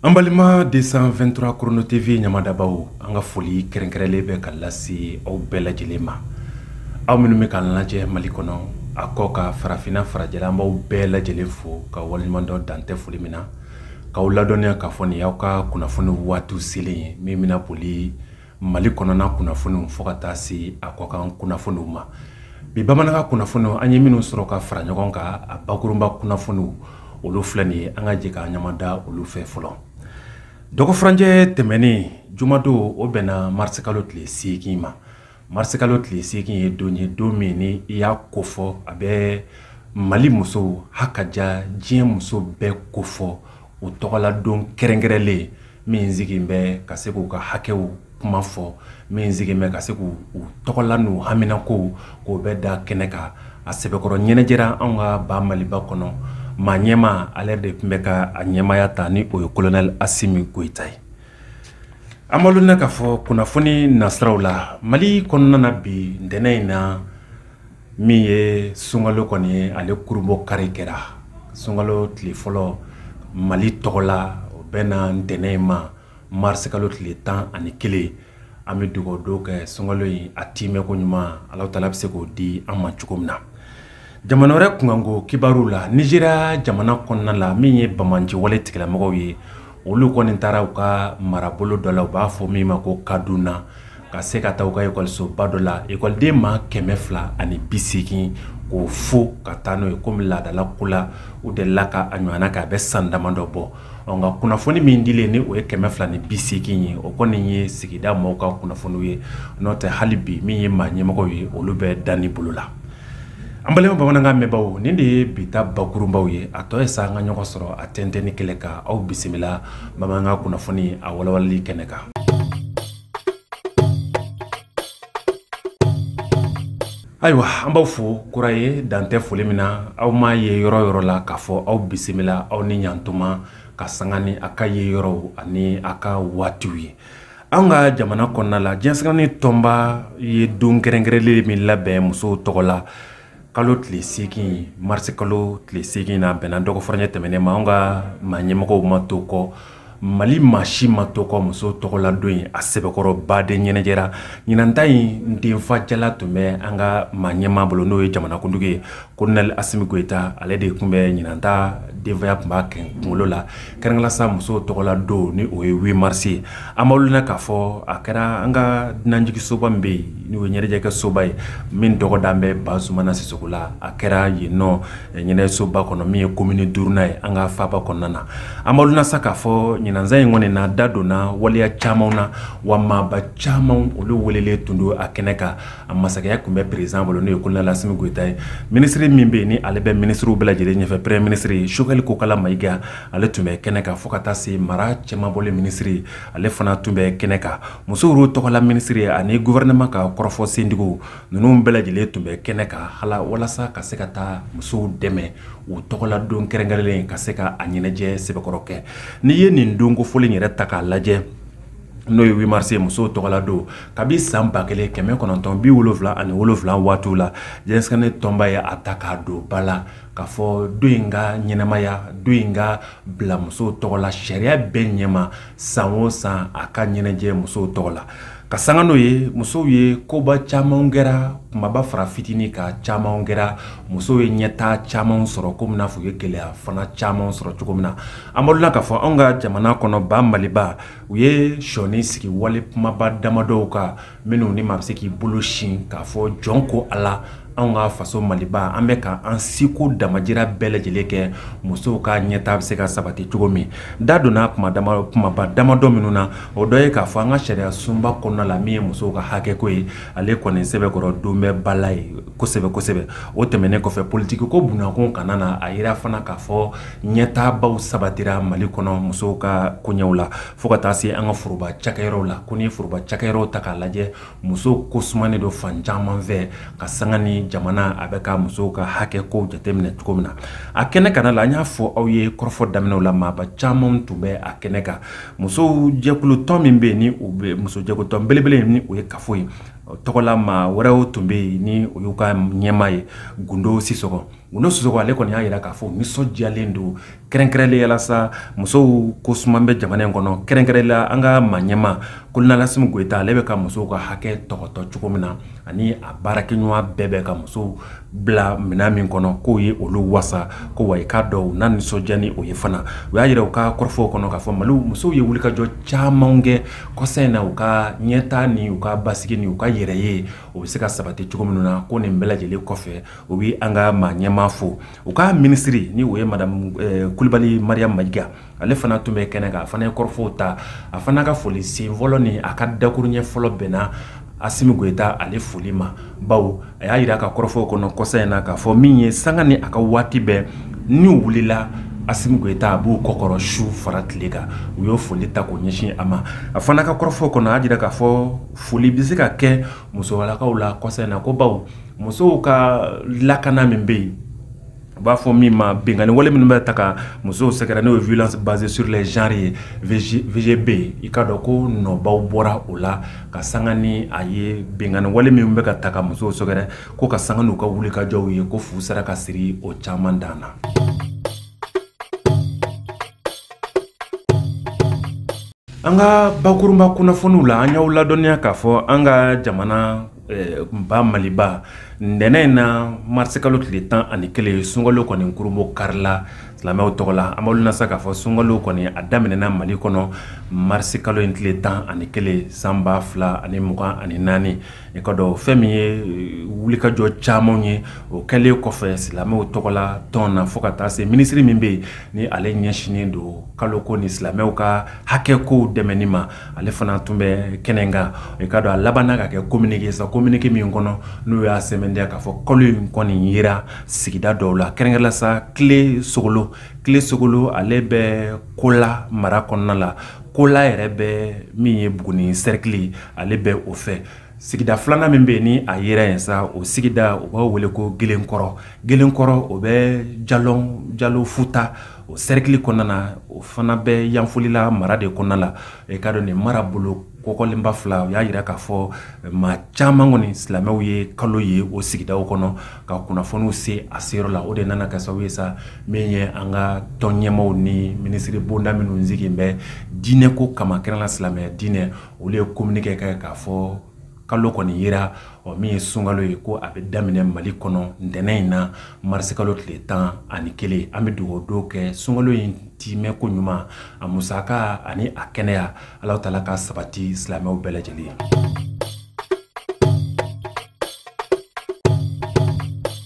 an balima 223 korono tv ɲamadabaw an ka foli kɛrɛnkɛrɛnlen bɛ ka lase aw bɛɛ lajɛlen ma aw minnu bɛ k'an lajɛ mali kɔnɔ a kɔkan farafinna farajɛla an b'aw bɛɛ lajɛlen fo ka waleɲuman dɔn dan tɛ foli min na k'aw ladɔnniya k'a fɔ nin y'aw ka kunnafoni waatiw selen ye min bɛna boli mali kɔnɔna kunnafoniw fo ka taa se a kɔkan kunnafoniw ma bi bamanankan kunnafoniw an ye minnu sɔrɔ ka fara ɲɔgɔn kan a bakurunba kunnafoniw olu filɛ nin ye an ka jɛ ka ɲamada olu fɛ fɔlɔ dɔgɔfurancɛ tɛmɛnen jumadon o bɛnna marisikalo tile seegin ma marisikalo tile seegin ye don ye don min ni i y'a kofɔ a bɛ mali musow hakaja diɲɛ muso bɛɛ kofɔ o tɔgɔladon kɛrɛnkɛrɛnlen min sigin bɛ ka se k'u ka hakɛw kuma fɔ min sigin bɛ ka se k'u u tɔgɔla n'u haminakow k'o bɛ da kɛnɛ kan a sɛbɛkɔrɔ ɲɛnajɛra anw ka ba maliba kɔnɔ maa ɲɛmaa ale yɛrɛ de tun bɛ ka a ɲɛmaaya ta ni o ye kolonɛli asimi goyita ye an malo na k'a fɔ kunnafoni nasiraw la mali kɔnɔna na bi ntɛnɛn in na min ye sunkalo kɔni ye ale kurunbonkari kɛra sunkalo tile fɔlɔ mali tɔgɔla o bɛnna ntɛnɛn ma marisi kalo tile tan ani kelen an bɛ dugawu don kɛ sunkalo in a tiimɛ ko ɲuman ala taala bɛ se k'o di an ma cogo min na jamana wɛrɛ kunkanko kibaruw la nizeriya jamana kɔnɔna la min ye banbaanciwale tigilamɔgɔw ye olu kɔni taara u ka marabolo dɔ la u b'a fɔ min ma ko kaduna ka se ka taa u ka ekɔlisoba dɔ la ekɔliden maa kɛmɛ fila ani bi seegin k'o fo ka taa n'o ye komi laadala ko la u delila ka a ɲɔgɔnna kɛ a bɛ san dama dɔ bɔ nka kunnafoni min dilen ni o ye kɛmɛ fila ni bi seegin ye o kɔni ye sigida mɔgɔw ka kunnafoniw ye n'o tɛ hali bi min ye maa ɲɛmɔgɔw ye olu bɛ danni bolo la An balima bamanankan mɛnbaaw nin de ye bi ta bakurunbaw ye a tɔ ye sa an ka ɲɔgɔn sɔrɔ a tɛntɛnni kɛnɛ kan aw bisimila bamanankan kunnafoni a walawalali kɛnɛ kan. Ayiwa an b'aw fo kura ye dan tɛ foli min na aw m'a ye yɔrɔ yɔrɔ la k'a fɔ aw bisimila aw ni ɲantuma ka sanga ni a ka ye yɔrɔw ani a ka waatiw ye. an ka jamana kɔnɔna la diɲɛ seleke naani tɔnba ye don kɛrɛnkɛrɛnlen de min labɛn musow tɔgɔ la kalo tile seegin marisi kalo tile seegin n'a bɛnna dɔgɔfurancɛ tɛmɛnen ma an ka maa ɲɛmɔgɔw ma to kɔ mali maa si ma to kɔ muso tɔgɔladon in a sɛbɛkɔrɔ baden ɲɛnajɛra ɲinanta in denfajala tun bɛ an ka maa ɲɛmaa bolo n'o ye jamanakuntigi ye kolonɛli asimi goyita ale de tun bɛ ɲinan ta denfaya tun b'a kunkolo la kɛrɛnkɛrɛnla sa musow tɔgɔla don ni o ye wi marisi ye an b'aw ladɔnniya k'a fɔ a kɛra an ka dunanjigisoba min bɛ yen n'o ye ɲɛnajɛkɛ soba ye min tɔgɔ dalen bɛ bazumana sisɔkɔ la a kɛra yen nɔ ɲɛnajɛsoba kɔnɔ min ye komini duurunan ye an ka faaba kɔnɔna na an b'aw ladɔnniya sa k'a fɔ ɲinan san in kɔni na da donna waleya caman na wa maaba caman olu welelen tun don a kɛnɛ kan a masakɛya tun bɛ perezidan bolo n'o ye kolonɛli asimi goyita ye minisiri min bɛ yen ni ale bɛ minisiriw bɛɛ lajɛlen ɲɛfɛ peremiye minisiri sogɛli kokala mayiga ale tun bɛ kɛnɛ kan fo ka taa se mara cɛmabɔli minisiri ale fana tun bɛ kɛnɛ kan musow tɔgɔla minisiri ani gɔfɛrɛnaman ka kɔrɔfɔ sentigiw ninnu bɛɛ lajɛlen tun bɛ kɛnɛ kan hala walasa ka se ka taa musow dɛmɛ u tɔgɔla don kɛrɛnkɛrɛnlen ka se ka a ɲɛnajɛ sɛbɛkɔrɔ kɛ n'i ye nin don kofɔlen yɛrɛ ta k'a lajɛ n'o ye wi marisi musow tɔgɔla don kabi san ba kelen kɛmɛ kɔnɔntɔn bi wolonwula ani wolonwula waatiw la diɲɛ seleke naani tɔnba ye a ta k'a don ba la k'a fɔ don in ka ɲɛnamaya don in ka bila musow tɔgɔ la sariya bɛɛ ɲɛma san o san a ka ɲɛnajɛ musow tɔgɔ la ka sanga n'o ye musow ye koba caman kɛra kumaba fara fitini kan caman kɛra musow ye ɲɛtaa caman sɔrɔ komi n'a fɔ u ye gɛlɛya fana caman sɔrɔ cogo min na an b'aw ladɔnniya k'a fɔ anw ka jamana kɔnɔ ba maliba u ye shɔni sigi wale kumaba damadɔw kan minnu ni maa bɛ se k'i bolo sin k'a fɔ jɔn ko ala anw ka faso maliba an bɛ ka an seko damajira bɛɛ lajɛlen kɛ musow ka ɲɛtaa bɛ se ka sabati cogo min da donna kumaba damadɔ minnu na o dɔ ye k'a fɔ an ka sariya sunba kɔnɔna la min ye musow ka hakɛko ye ale kɔni sɛbɛkɔrɔ don bɛ ba la yen kosɛbɛ kosɛbɛ o tɛmɛnen kɔfɛ politiki ko bunakun kana na a yira fana k'a fɔ ɲɛtaabaw sabatira mali kɔnɔ musow ka koɲɛw la fo ka taa se an ka foroba cakɛyɔrɔw la ko n'i ye foroba cakɛyɔrɔw ta k'a lajɛ musow ko sumanen don fan caman fɛ ka sanga ni jamana a bɛ ka musow ka hakɛ kow jateminɛ cogo min na a kɛnɛ kanna la an y'a fɔ aw ye kɔrɔfɔ daminɛw la maaba caman tun bɛ a kɛnɛ kan musow jɛkulutɔn min bɛ yen ni u bɛ muso jɛkulutɔn belebele ni o ye kafo ye tɔgɔla maa wɛrɛw tun bɛ yen ni o y'u ka ɲɛmaa ye gundo sisɔgɔ gundo sisɔgɔ ale kɔni y'a yira k'a fɔ nisɔndiyalen don kɛrɛnkɛrɛnlen yalasa musow ko suman bɛ jamana in kɔnɔ kɛrɛnkɛrɛnla an ka maa ɲɛmaa kolonɛli asimi goyita ale bɛ ka musow ka hakɛ tɔgɔtɔ cogo min na ani a baarakɛɲɔgɔn bɛɛ bɛ ka musow bila minɛn min kɔnɔ k'o ye olu wasa ko wa i k'a dɔn u na nisɔndiya ni o ye fana u y'a yira u ka kɔrɔfɔw kɔnɔ k'a fɔ mali musow ye wulikajɔ caman kɛ kɔsa in na u ka ɲɛtaa ni u ka basigi ni u ka yɛrɛ ye o bɛ se ka sabati cogo minnu na ko nin bɛɛ lajɛlen kɔfɛ u bɛ an ka maa ɲɛmaa fo u ka minisiri ni o ye madamu kulibali mariyamu mayiga ale fana tun bɛ kɛnɛ kan a fana ye kɔrɔfɔw ta a fana ka foli sen fɔlɔ ni a ka dakuruɲɛ fɔlɔ bɛnna asimi goyita ale foli ma bawo a y'a jira ka kɔrɔfɔw kɔnɔ kɔsa in na k'a fɔ min ye sanga ni a ka waati bɛɛ n'u wulila asimi goyita a b'u kɔkɔrɔ su fara tile kan u y'o foli ta k'o ɲɛsin a ma a fana ka kɔrɔfɔw kɔnɔ a y'a jira k'a fɔ foli bɛ se ka kɛ musolakaw la kɔsa in na ko bawo musow ka lakana min bɛ yen u b'a fɔ min ma binkanni wale minnu bɛ taa ka musow sɛgɛrɛ n'o ye violence basée sur les genres ye VG VGB i k'a dɔn ko nɔbaw bɔra o la ka sanga ni a ye binkanni wale minnu bɛ ka taa ka musow sɛgɛrɛ ko ka sanga n'u ka wulikajɔw ye ko fu sera ka siri o caman dan na. an ka bakurunba kunnafoniw la an y'aw ladɔnniya k'a fɔ an ka jamana eh, ba maliba ntɛnɛn in na marisikalo tile tan ani kelen sunkalo kɔni kurunbon karila silamɛw tɔgɔ la an b'olu nasa k'a fɔ sunkalo kɔni a daminɛna mali kɔnɔ marisikalo in tile tan ani kelen san ba fila ani mugan ani naani i k'a dɔn fɛn min ye eh, wulikajɔ camanw ye o kɛlen kɔfɛ silamɛw tɔgɔ la tɔn na fo ka taa se minisiri min bɛ yen ni ale ɲɛsinnen don kalo ko ni silamɛw ka hakɛ kow dɛmɛni ma ale fana tun bɛ kɛnɛ kan i k'a dɔn a labanna ka kɛ kominike sa kominike min kɔnɔ n'u y'a sɛmɛntiya k'a fɔ kalo in kɔni yera sigida dɔw la kɛrɛnkɛrɛnla sa kile sogolo kile sogolo ale bɛ kola mara kɔnɔna la kola yɛrɛ bɛ min ye buguni sɛrikili ale bɛ o fɛ sigida filanan min bɛ yen ni a yera yen sa o sigida u b'a wele ko gelenkɔrɔ gelenkɔrɔ o bɛ ja jalo futa o sɛrikili kɔnɔna na o fana bɛ yanfolila mara de kɔnɔna la i k'a dɔn nin marabolo kofɔlenba fila u y'a jira k'a fɔ maa caman kɔni silamɛw ye kalo ye o sigida kɔnɔ ka kunnafoniw se a seyɔrɔ la o de nana kɛ sababu ye sa min ye an ka tɔn ɲɛmaaw ni minisiri bonda minnu sigilen bɛ diinɛ ko kama kɛrɛnla silamɛ diinɛ olu ye kominike kɛ k'a fɔ kalo kɔni yera ɔ min ye sunkalo ye ko a bɛ daminɛ mali kɔnɔ ntɛnɛn in na marisikalo tile tan ani kelen an bɛ dugawu don kɛ sunkalo in timɛ koɲuman a musaka ani a kɛnɛya alahu taala k'a sabati silamɛw bɛɛ lajɛlen ye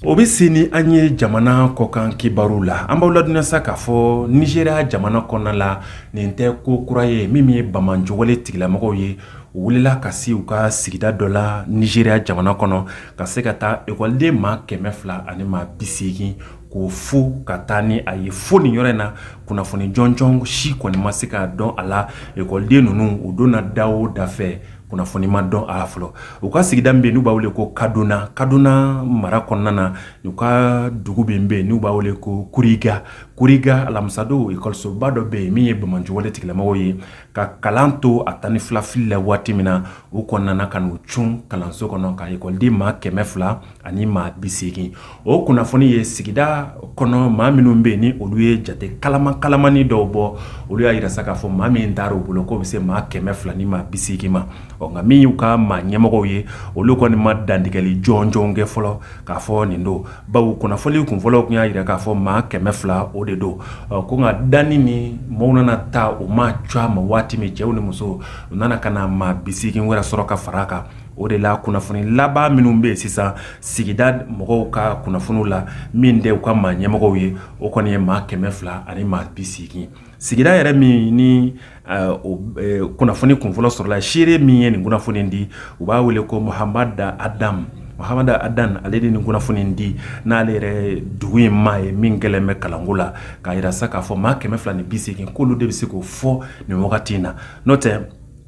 o bɛ se ni an ye jamana kɔkan kibaru la an b'aw ladɔnniya sa k'a fɔ nizeriya jamana kɔnɔna la nin tɛ ko kura ye min ye banbaanci wale tigilamɔgɔw ye u wulila ka se u ka sigida dɔ la nizeriya jamana kɔnɔ ka se ka taa ekɔliden maa kɛmɛ fila ani maa bi seegin k'o fo ka taa ni a ye fo nin yɔrɔ in na kunnafoni jɔnjɔn si kɔni ma se ka dɔn a la ekɔliden ninnu u donna da o da fɛ kunnafoni ma dɔn a la fɔlɔ u ka sigida min bɛ yen n'u b'a wele ko kaduna kaduna mara kɔnɔna na u ka dugu min bɛ yen n'u b'a wele ko kuriga kuriga alamisadon ekɔlisoba dɔ bɛ yen min ye banbaanciwale tigilamɔgɔw ye ka kalan to a tan ni filafili la waati min na u kɔni nana ka n'u cun kalanso kɔnɔ ka ekɔliden maa kɛmɛ fila ani maa bi seegin o kunnafoni ye sigida kɔnɔ maa minnu bɛ yen ni olu ye jate kalama kalamani dɔw bɔ olu y'a jira sa k'a fɔ maa min taara u bolo k'o bɛ se maa kɛmɛ fila ni maa bi seegin ma ɔ nka min y'u ka maa ɲɛmɔgɔw ye olu kɔni ma dantigɛli jɔnjɔn kɛ fɔlɔ k'a fɔ nin don bawo kunnafoni kunfɔlɔ tun y'a jira k'a fɔ maa kɛmɛ fila o de don ɔ ko nka danni ni maaw nana taa u ma cɔ a ma waati min cɛw ni musow u nana ka na maa bi seegin wɛrɛ sɔrɔ ka fara a kan o de la kunnafoni laban minnu bɛ yen sisan sigida mɔgɔw ka kunnafoniw la min tɛ u ka maa ɲɛmɔgɔw ye o kɔni ye maa kɛmɛ fila ani maa bi seegin sigida yɛrɛ min ni eh, o eh, kunnafoni kunfɔlɔ sɔrɔla seere min ye nin kunnafoni di u b'a wele ko muhamada adamu muhamada adan ale de nin kunnafoni in di n'ale yɛrɛ dugu in maa ye min gɛlɛn bɛ kalanko la k'a yira sa k'a fɔ maa kɛmɛ fila ni bi seegin k'olu de bɛ se k'o fɔ nin wagati in na n'o tɛ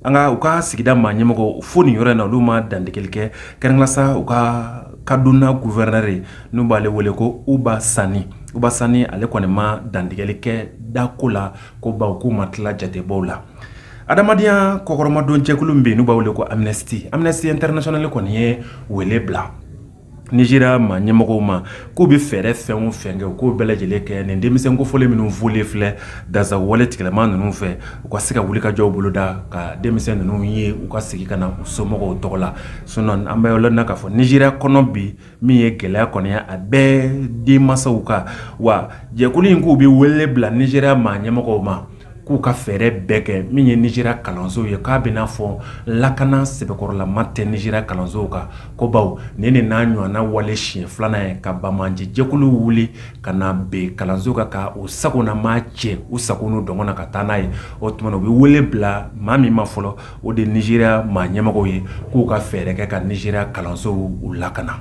nka u ka sigida maa ɲɛmɔgɔ fo nin yɔrɔ in na olu ma dantigɛli kɛ kɛrɛnkɛrɛn la sa u ka kaduna guvɛrɛnɛri ye n'u b'ale wele ko uba sani uba sani ale kɔni ma dantigɛli kɛ dako la ko bawo k'u ma tila jatebɔw la adamadenya kɔkɔrɔmadon jɛkulu min bɛ yen n'u b'a wele ko amnesty amnesty international kɔni ye wele bila nizeriya maa ɲɛmɔgɔw ma k'u bɛ fɛɛrɛ fɛn o fɛn kɛ u k'o bɛɛ lajɛlen kɛ nin denmisɛn kofɔlen minnu volen filɛ dansagonwale tigilamaa ninnu fɛ u ka se ka wulikajɔw boloda ka denmisɛn ninnu ye u ka segin ka na u somɔgɔw tɔgɔ la sinɔn an bɛ yɔrɔ na k'a fɔ nizeriya kɔnɔ bi min ye gɛlɛya kɔni ye a bɛ denmansaw kan wa jɛkulu in k'u bɛ wele bila nizeriya maa ɲɛmɔgɔw ma k'u ka fɛɛrɛ bɛɛ kɛ min ye nizeriya kalansow ye k'a bɛ n'a fɔ lakana sɛbɛkɔrɔlama tɛ nizeriya kalansow kan ko bawo nin de n'a ɲɔgɔnna wale siɲɛ filanan ye ka banbaanci jɛkulu wuli ka na bin kalansow kan ka u sagona maa cɛ u sago n'u dungɔ na ka taa n'a ye o tuma na u bɛ wele bila maa min ma fɔlɔ o de nizeriya maa ɲɛmɔgɔw ye k'u ka fɛɛrɛ kɛ ka nizeriya kalansow u lakana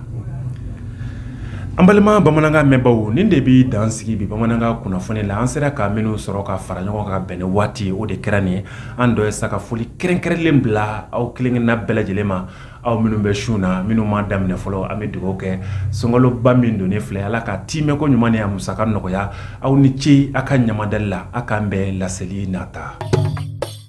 an balima bamanankan mɛnbaw nin de bɛ dan sigi bi bamanankan kunnafoni la an sera ka minnu sɔrɔ ka fara ɲɔgɔn kan bɛn ni waati o de kɛra nin ye an tɔ ye sa ka foli kɛrɛnkɛrɛnlen bila aw kelenkelenna bɛɛ lajɛlen ma aw minnu bɛ sun na minnu m'a daminɛ fɔlɔ an bɛ dugawu kɛ sunkaloba min donnen filɛ ala k'a tiimɛko ɲuman ni a musaka nɔgɔya aw ni ce a ka ɲamadali la a k'an bɛn laseli nata